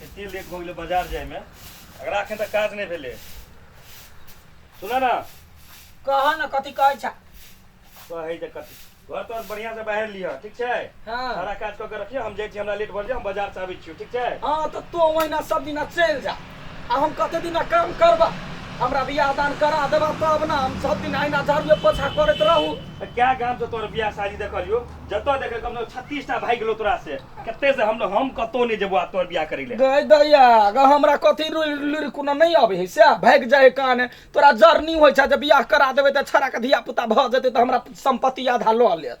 एते लेट भऽ गेलै बाजार जायमे एकरा एखन तक काज नहि भेलै सुन ने कह न कथी कहै छ कहै जे कथी घर तोर बढ़िया से बाहर लिह ठीक छै हाँ सारा काज कऽ के रखियो हम जाइ छी हमरा लेट भऽ जाय हम बाजार से आबै छियो ठीक छै हाँ तऽ तो ओहिना सब दिना चलि जा आ हम कते दिना काम करबा हमरा बियाह दान करा देबा तब ना हम सब दिन अहिना झाड़ूए पोछा करैत रहू तऽ क्या गाम से तोर बियाह शादी देखलियो जतऽ देखे कम से कम छत्तीस टा भागि गेलो तोरा से कते से हम लोग हम कतो नहीं जेबो आ तोर बियाह करे ले गए दैया ग हमरा कथी लुर कुना नहीं आवे है से भाग जाए कान तोरा जर्नी होय छ जब बियाह करा देबे त छरा के धिया पुता भ जते त हमरा संपत्ति आधा ल लेत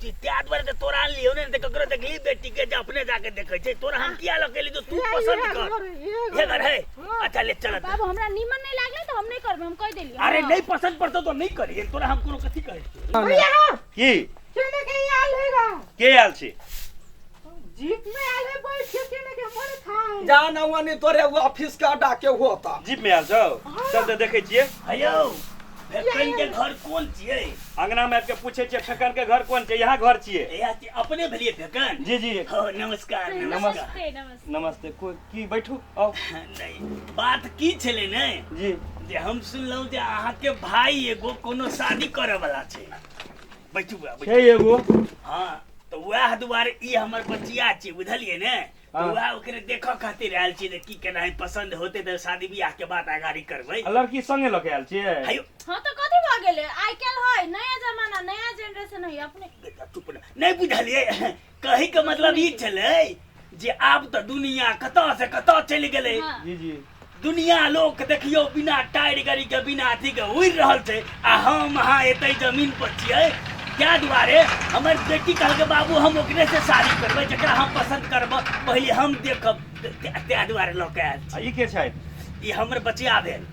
कि त्या द्वारे ते तोरा आन लियो ने ते ककरो देखली बेटी के जे अपने जाके देखे छै तोरा हम किया लके ली तो तू किया पसंद इहे कर घर, इहे घर। ये घर है हाँ। अच्छा ले चल बाबू हमरा नीमन नहीं लागले तो हम नहीं करबे हम कह देलिए अरे नहीं पसंद पड़तो तो नहीं करिए तोरा हम कोनो कथी कहै छियै भैया की चले के आल है गा के आयल छी जीप में आयल है बैठ के केने के मन खाए जा ना वनी तोरे वो ऑफिस के अड्डा के होता जीप में आयल छौ चल तऽ देखै छियै हयौ फेकन के घर कोन छियै अंगना में आबि के पूछै छियै फेकन के घर कोन छै यहाँ घर छियै एया के अपने भेलिए फेकन जी जी हो नमस्कार नमस्कार नमस्ते नमस्ते नमस्ते कोइ की बैठू आउ नहीं बात की छले ने जी जे हम सुनलहुँ जे अहाँके भाई एगो कोनो शादी करऽ वाला छै बैठू बा, बैठू। छै एगो हाँ तो वह दुआरे ई हमर बचिया छी बुझलिए ने तो हाँ। वह ओकरे देखो खातिर आयल छी जे की केना है पसंद होते तो शादी ब्याह के बाद आगारी करबै आ लड़की संगे लऽ के आयल छियै हायो हाँ तो कथी भऽ गेलै आइ काल्हि है नया जमाना नया जनरेशन है अपने बेटा चुप ना नहीं बुझलिए कहे के मतलब ई छले जे आब तऽ दुनिया कतऽ से कतऽ चलि गेलै हाँ। जी जी दुनिया लोग के देखियो बिना टायर गाड़ी के बिना अथी के उड़ि रहल छै आ हम अहाँ एते जमीन पर छियै क्या दुआरे हमर बेटी कहलकै बाबू हम ओकरे से शादी करबै जकरा हम पसंद करब पहिले हम देखब त्या दुआरे लऽ के आयल आ ई के छथि छी। ई हमर बचिया भेल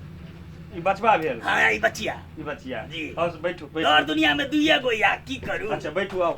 ई बचबा भेल हाँ ई बचिया ई बचिया जी। हँ बैठू डर बैठू दुनिया में दुइए गो या की करू अच्छा बैठू आउ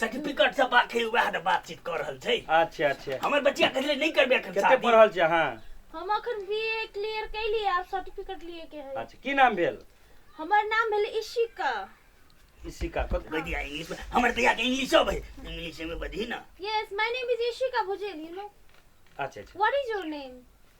सर्टिफिकेट सब बाकी वएह ने बातचीत कर रहल छै अच्छा अच्छा हमर बच्चिया कहले नहीं करबे एखन कते शादी। पढ़ल छी अहाँ हम अखन बीए क्लियर कैली आब सर्टिफिकेट लिए के है अच्छा की नाम भेल हमर नाम भेल इशिका इशिका कत कह दिया इंग्लिश में हमर भैया के इंग्लिश सब है इंग्लिश में बधी ना yes my name is Ishika Bhujel you know अच्छा अच्छा व्हाट इज योर नेम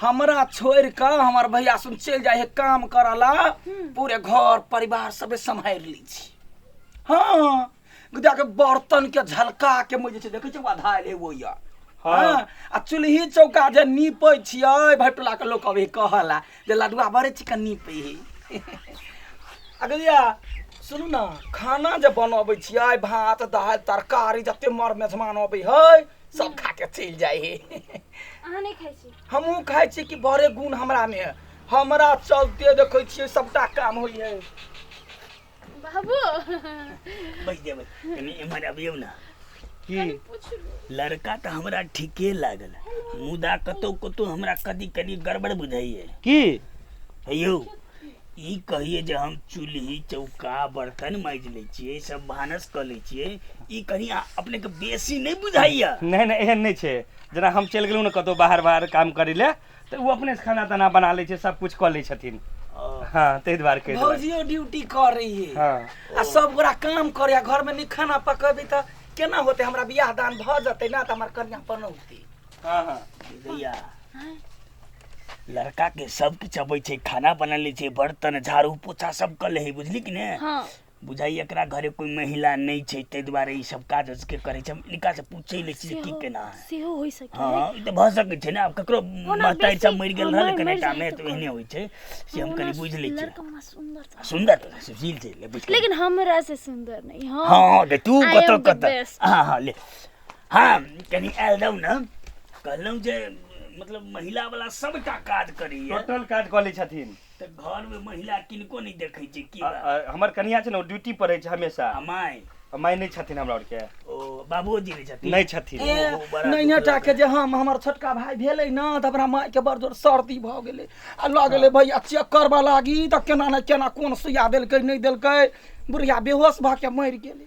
हमरा छोड़ के हमर भैया सुन चल जाए है काम करे ला पूरे घर परिवार सबे संभाल ली छी हाँ गुदा के बर्तन के झलका के मुझे छै देखे छै आधा ले वो या हाँ। हाँ, आ चूल्ही चौका जे नीपे छियै भाई टोला के लोग अभी कहला जे लडुआ बड़े चिकन नीपे है अगलिया सुनू ना खाना जे बनबै छियै भात दालि तरकारी जते मर मेहमान अबै है सब खा के चलि जाइ हे अहाँ नहि खाइ छी हमहूँ खाइ छी कि बड़े गुण हमरामे है हमरा चलते देखै छियै सबटा काम होइ है बाबू बैस जेबै कनी एम्हर अबियौ ने की लड़का तऽ हमरा ठीके लागल मुदा कतौ कतौ हमरा कदी कदी गड़बड़ बुझाइए की हे यौ ई कहियै जे हम चूल्हि चौका बर्तन माजि लै छियै सब भानस कऽ लै छियै ई कनि अपनेके बेसी नहि बुझाइया नहि नहि एहन नहि छै जेना हम चलि गेलहुँ ने कतहु बाहर बाहर काम करै लए तऽ ओ अपने खाना ताना बना लै छै सब कुछ कऽ लै छथिन हँ ताहि दुआरे कहि भौजियो ड्यूटी करै हँ आ सब गोरा काम करै घरमे नहि खाना पकबै तऽ केना होतै हमरा बियाह दान भऽ जेतै ने तऽ हमर कनिया पनौती हाँ हाँ भैया लड़का के सब किछु अबै छै खाना बना लै छै बर्तन झाड़ू पोछा सब कर ले है बुझली कि ने हाँ बुझाइ एकरा घरे कोई महिला नहि छै ताहि दुआरे ई सब काज उसके करै छै हम इनका से पूछे लै छी जे की केना है सेहो होइ सकै हाँ हाँ, ई तऽ भऽ सकै छै ने आब ककरो ओना महतारी सब बेसी- मरि गेल हाँ, रहल मरि- कने मरि जाइ टामे तऽ तऽ एहने होइ छै से हम कनि बुझि लै छियै लड़का हमरा सुंदर था। सुन्दर तऽ सुशील छै ले बुझ लेकिन हमरा से सुंदर नहीं हाँ हाँ हाँ, तऽ तू I am कतऽ the कतऽ best. हाँ हाँ ले हम कनी आयल रहू ने कहलहुँ जे मतलब महिला वाला सबटा काज करैए टोटल काज कऽ लै छथिन तऽ घर में महिला किनको नहि देखै छै की आ- आ, हमर कनिया छै ने ओ ड्यूटी पर रहै छै हमेशा माय माय नहि छथिन हमरा आरके ओ बाबूजी नहि छथिन नहि छथिन ए, ओहो बड़ा दुख नैनेटा के जे हम हमर छोटका भाय भेलै ने तऽ अपना माय के बड़ जोर सर्दी भऽ गेलै आ लऽ गेलै हाँ। भैया चेक करबऽ लागी तऽ केना ने केना कोन सुइया देलकै नहि देलकै बुढ़िया बेहोश भऽ के मरि गेलै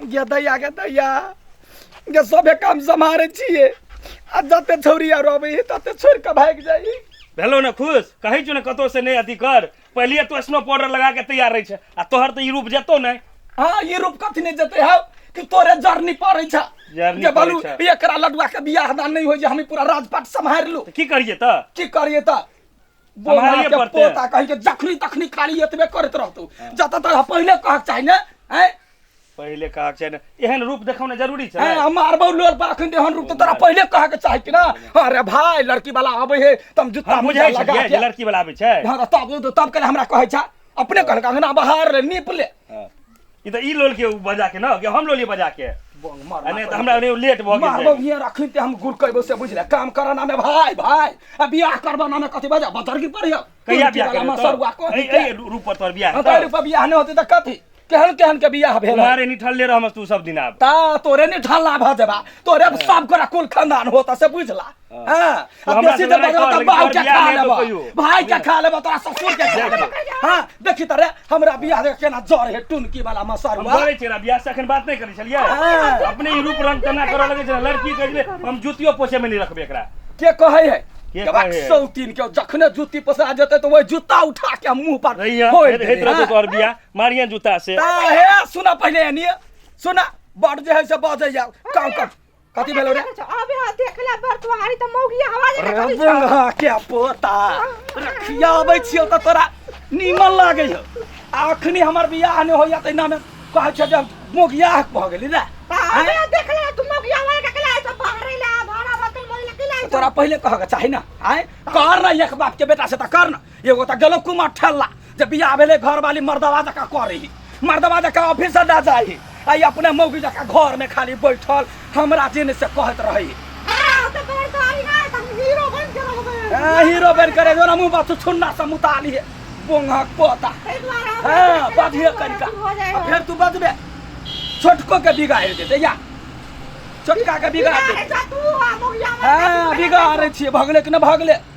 गे दैया गे दैया गे सभे काम सम्हारे छियै आ जते छौरी आर अबै है तते छोड़ के भागि जाइ भेलो ने खुश कहै छौ ने कतौ से नहि अथी कर पहिले तो स्नो पाउडर लगा के तैयार रहै छै आ तोहर तऽ ई रूप जेतौ ने हाँ ई रूप कथी नहि जेतै हौ कि तोरे जर्नी पड़ै छ जर्नी जे बोलू पड़ै छै। एकरा लडुआ के बियाह दान नहि होइ जे हम ई पूरा राजपाट सम्हारि लू तऽ की करियै तऽ की करिए तऽ बोला सम्हारिये के पड़तै। पोता कहि के जखनी तखनी खाली एतबे करत रहतो जतऽ तक पहिले कहक चाही ने हैं पहिले कहा छै ने एहन रूप देखौना जरूरी छै हैं हम मारबौ लोल पर अखन देहन रूप तऽ तोरा पहिले कहक चाही कि ना अरे भाय लड़की वाला आबै हे तम जुत्ता हम मुजा बुझै लगा छियै जे के लड़की वाला आबै छै हाँ, तब तब के हमरा कहै छै अपने कहलक अंगना बहार ले नीप ले ई तऽ ई लोल के बजा के ना कि हम लोली बजा के बंग मार आ नहि तऽ हमरा ओने लेट भऽ मारबो गेल भियर अखन ते हम गुड़ कहबो से बुझले काम करऽ नामे भाय भाय आ बियाह करबो नामे कथी बजा बतर की पर यौ कहिया बियाह करबो मसरुआ को ए ए रूप पर तोर बियाह अंतर पर बियाह नहि होते त कथी केहन केहन के बियाह भेल तुम्हारे निठल ले रहम तू सब दिन आब ता तोरे ने ढाला भ जेबा तोरे सब गोरा कुल खानदान होता से बुझला हां तो अब हमरा बेसी से दे लड़ाई बजा कर, त लेकिन बाहु तोहर के बियाह खा नहीं लेबो होतो कहियो। भाई के खा लेबो तोरा ससुर के खा लेबो हां देखी त रे हमरा बियाह देख केना जर हे टुनकी वाला हम मसरुआ बोलै छियै बियाह से अखन बात नहि करै छलियै हाँ। अपने ई रूप रंग तना करऽ लगै छै लड़की कहै छलै हम जूतियो पोछे मे नहि रखबै एकरा के कहै है के के कहै बाक है? सौतीन के जखने जूती पसरा जेतै तऽ ओहि जूता उठा के हम मुंह पर रहिया फोड़ि हेत देबै, रहतो हाँ। तोहर बियाह मारिया जूता से हाँ, हे सुना पहिले एनिए सुना बड़ जे है से बजै जाओ काम कर कथी भेलो रे अच्छा, अबे हाँ देख ले बर तुम्हारी तो मौगी हवा ले रे कभी बंगा के पोता रखिया अबै छियो त तोरा नीमन लागै हो आ अखनी हमर बियाह नै होइया तै नामे कहै छै जे मोगिया भऽ गेली रे अबे हाँ, देख ले तुम मौगी हवा ले ककला ऐसा बाहर ही ला भाड़ा बतल मोई लगी ला तोरा पहिले कहऽ के चाही ना आय कर ना एक बाप के बेटा से त कर ना एगो त गलत कुमार ठेला जे बियाह भेले घर वाली मर्दवा जका करी मर्दवा जका ऑफिस से ना जाई आई अपने मौगी जका घर में खाली बैठल हमरा जिन से कहत रही हाँ, तो बड़ सारी ना, तो हम हीरो बन के रह गए। ए, हीरो बन करे जो ना मुंह बस छुन्ना से मुताली है बोंगा पोता ताहि दुआरे हम हाँ ऐसे बाधिए करके कनिका अथी हो जाए अब हो। फिर तू बदबे छोटको के बिगाड़ देते या छोटका के बिगाड़ बिगाड़े देते जा तू, आ, मौगिया मत हाँ कर। बिगाड़े छिए भगले कि ना भगले